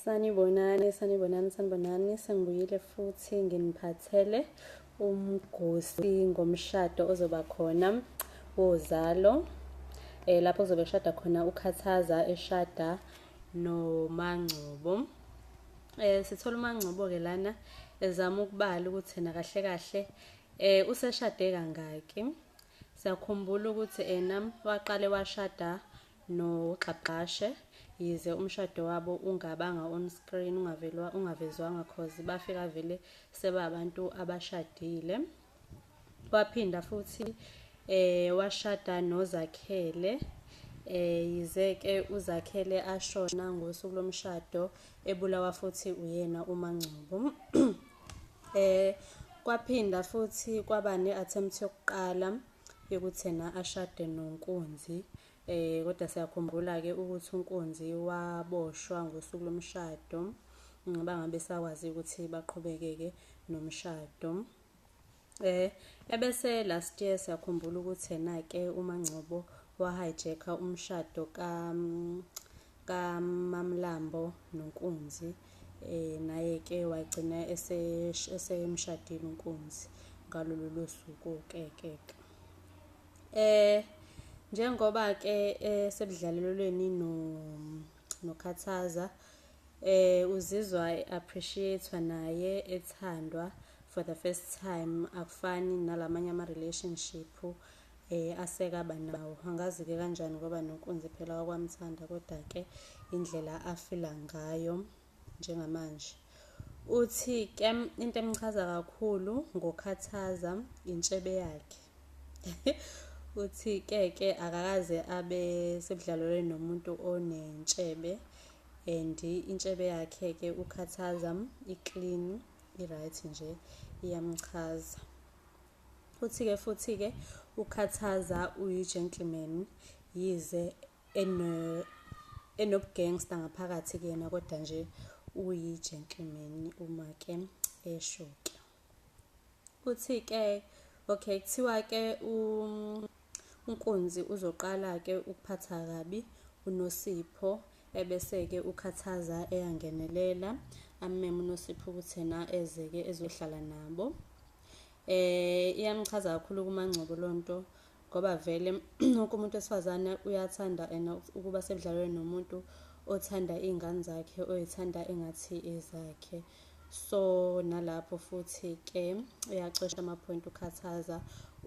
Sanibonani, sanibonani, sanibonani. Sengibuyile futhi nginiphathele umgosi ngomshado ozoba khona wozalo. Eh lapho kuzobe kushada khona uKhathaza eshada noMangcobo. Eh sithola uMangcobo ke lana ezama ukubala ukuthi yena kahle kahle eh useshade kangaki. Siyakhumbula ukuthi ena waqale washada noGxagxashe yize umshado wabo ungabanga on screen ungavelwa ungavezwanga cause bafika vele sebabantu abashadile waphinda futhi eh washada noZakhele eh yize ke uZakhele ashona ngosuku lomshado ebulawa futhi uyena uMangcobo eh kwaphinda futhi kwaba ne-attempt yokuqala yokuthena ashade nonkunzi Eh kodwa siyakhumbula ke ukuthi uNkunzi waboshwa ngosuku lomshado mm, bangabe sakwazi ukuthi baqhubeke ke nomshado. Eh ebese last year siyakhumbula ukuthi yena ke uMangcobo wa hijacka umshado ka mm, ka Mamlambo noNkunzi eh naye ke wagcina esemshadile uNkunzi ngalolu suku ke ke. Eh njengoba ke eh, sebudlalelweni no nokhathaza eh uzizwa appreciatewa naye ethandwa for the first time akufani nalamanye ama relationship eh asekaba nawo angazi ke kanjani ngoba nonkunzi phela wakwamthanda kodwa ke indlela afila ngayo njengamanje. Uthi ke into emchaza kakhulu ngokhathaza intshebe yakhe. Uthi ke ke akakaze abe sebudlalweni nomuntu onentshebe and intshebe yakhe ke ukhathaza iclean i-right nje iyamchaza. Uthi ke futhi ke ukhathaza uyi-gentleman yize eno enobugangster ngaphakathi kuyena kodwa nje uyi gentleman uma ke esho ke uthi ke okay kuthiwa ke unkunzi uzoqala ke ukuphatha kabi unosipho ebese ke ukhathaza eyangenelela ameme unosipho ukuthi na ezeke ezohlala nabo eh iyamchaza kakhulu kumangcobo lonto ngoba vele wonke umuntu wesifazane uyathanda and ukuba sebudlalweni nomuntu othanda iy'ngane zakhe oyithanda engathi ezakhe so nalapho futhi ke uyacosha amaphoyinti ukhathaza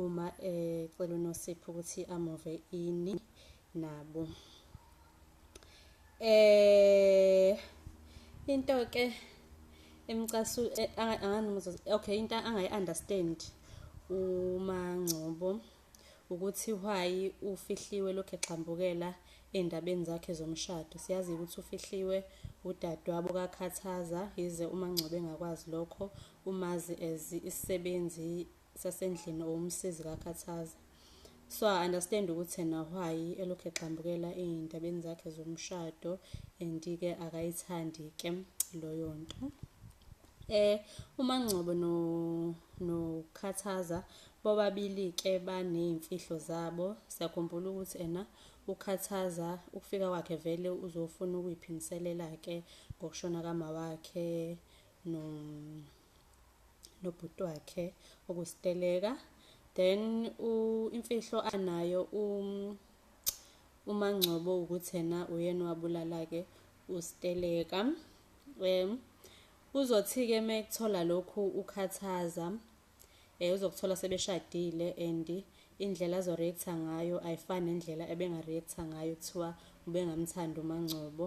uma ecela unosipho ukuthi amove ini nabo eh into ke emcasu eh, anganuzo okay into angayi understand umangcobo ukuthi why ufihliwe lokho exambukela endabeni zakhe zomshado siyazi ukuthi ufihliwe udadewabo kakhathaza yize umangcobo engakwazi lokho umazi as isisebenzi sasendlini or umsizi kakhathaza so i understand ukuthi yena why elokhu egxambukela ey'ndabeni zakhe zomshado and-ke akayithandi-ke loyo nto eh uMangcobo no nokhathaza bobabili ke banezimfihlo zabo siyakhumbula ukuthi ena ukhathaza ukufika kwakhe vele uzofuna ukuyiphindiselela ke ngokushona kama wakhe no nobhuti wakhe okusteleka then imfihlo anayo um uma ngcobo ukuthi yena uyena wabulala ke usteleka um uzothi ke mekuthola lokhu ukhathaza eh uzokuthola sebeshadile and indlela azo react ngayo ayifani nendlela ebenga react ngayo kuthiwa ubengamthanda umangcobo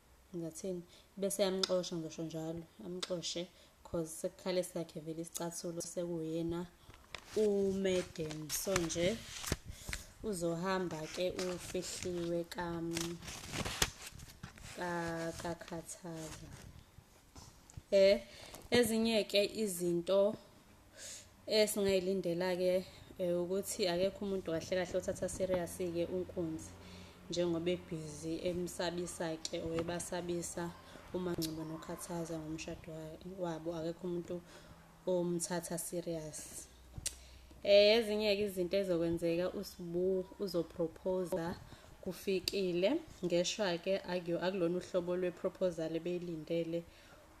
ngathini bese yamxosha ngizosho njalo amxoshe cause sekukhala esakhe vele isicathulo sekuyena umadam so nje uzohamba ke ufihliwe kam kakhathaza eh ezinye ke izinto esingayilindela ke eh, ukuthi akekho umuntu kahle kahle othatha serious ke unkunzi njengoba ebhizi emsabisa ke oyebasabisa uma ngcobo nokhathaza ngomshado wabo akekho umuntu umthatha serious eh ezinye ke izinto ezokwenzeka usibu uzoproposer kufikile ngeshwa ke akuyo akulona uhlobo lweproposal ebeyilindele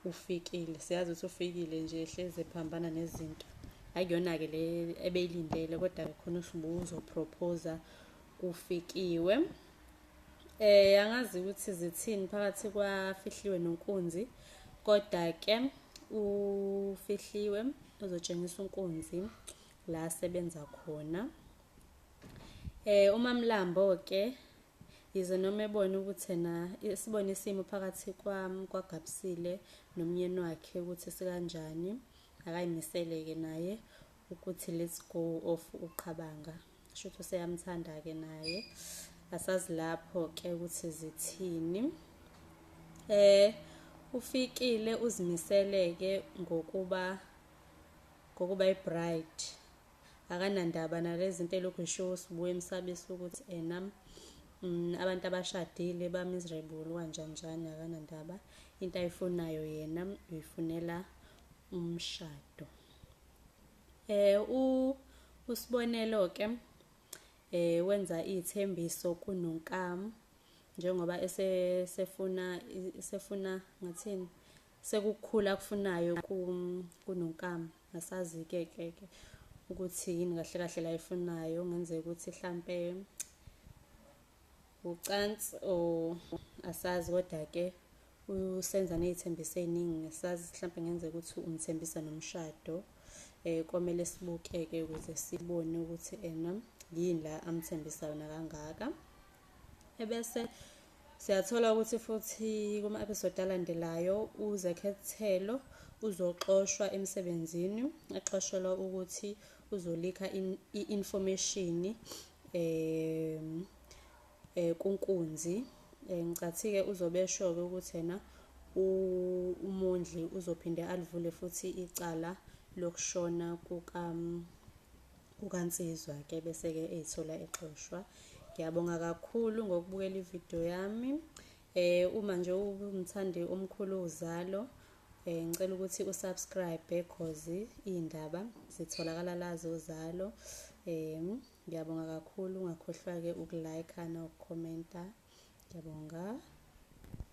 ufikile siyazi ukuthi ufikile nje ehleze phambana nezinto akuyona ke le ebeyilindele kodwa khona usibu uzoproposer kufikiwe Eh angazi ukuthi zithini phakathi kwafihliwe nonkunzi kodwa ke ufihliwe uzotshengisa unkunzi la sebenza khona. Eh umamlambo ke yize noma ebona ukuthi na sibone isimo phakathi kwami kwagabsile nomnyeni wakhe ukuthi sikanjani akayimisele ke naye ukuthi let's go off uqhabanga. Shuthu seyamthanda ke naye. Asazi lapho ke ukuthi zithini. Eh ufikile uzimiseleke ngokuba ngokuba ibride akanandaba nalezi into elokhu ishiwo sibuye emsabisa ukuthi ena mm, abantu abashadile ba-miserable kanjanjani akanandaba into ayifunayo yena uyifunela umshado Eh u usibonelo ke eh wenza izithembiso kuNonkamu njengoba esefuna sefuna ngathini sekukhula kufunayo kuNonkamu asazi ke ke ke ukuthi yini kahle kahle la ifunayo ngenzeka ukuthi hlampe ucansi o asazi kodwa ke usenza nezithembiso eziningi ngesazi mhlawumbe ngenze ukuthi umthembisa nomshado eh komele sibukeke ukuze sibone ukuthi ena yini la amthembisa yona kangaka ebese siyathola ukuthi futhi kuma episode alandelayo uzekhethelo uzoxoshwa emsebenzini exoshelwa ukuthi uzolikha i-information um eh, kunkunzi eh, ngicathike uzobe esho-ke ukuthi yena umondli uzophinde alivule futhi icala lokushona kukansizwa ke bese-ke eyithola exoshwa ngiyabonga kakhulu ngokubukela ividiyo yami Eh uma nje umthandi omkhulu uzalo eh ngicela ukuthi usubscribe because indaba zitholakala lazo zalo. Eh ngiyabonga kakhulu ungakhohlwa ke ukulike na ukucomenta. Ngiyabonga.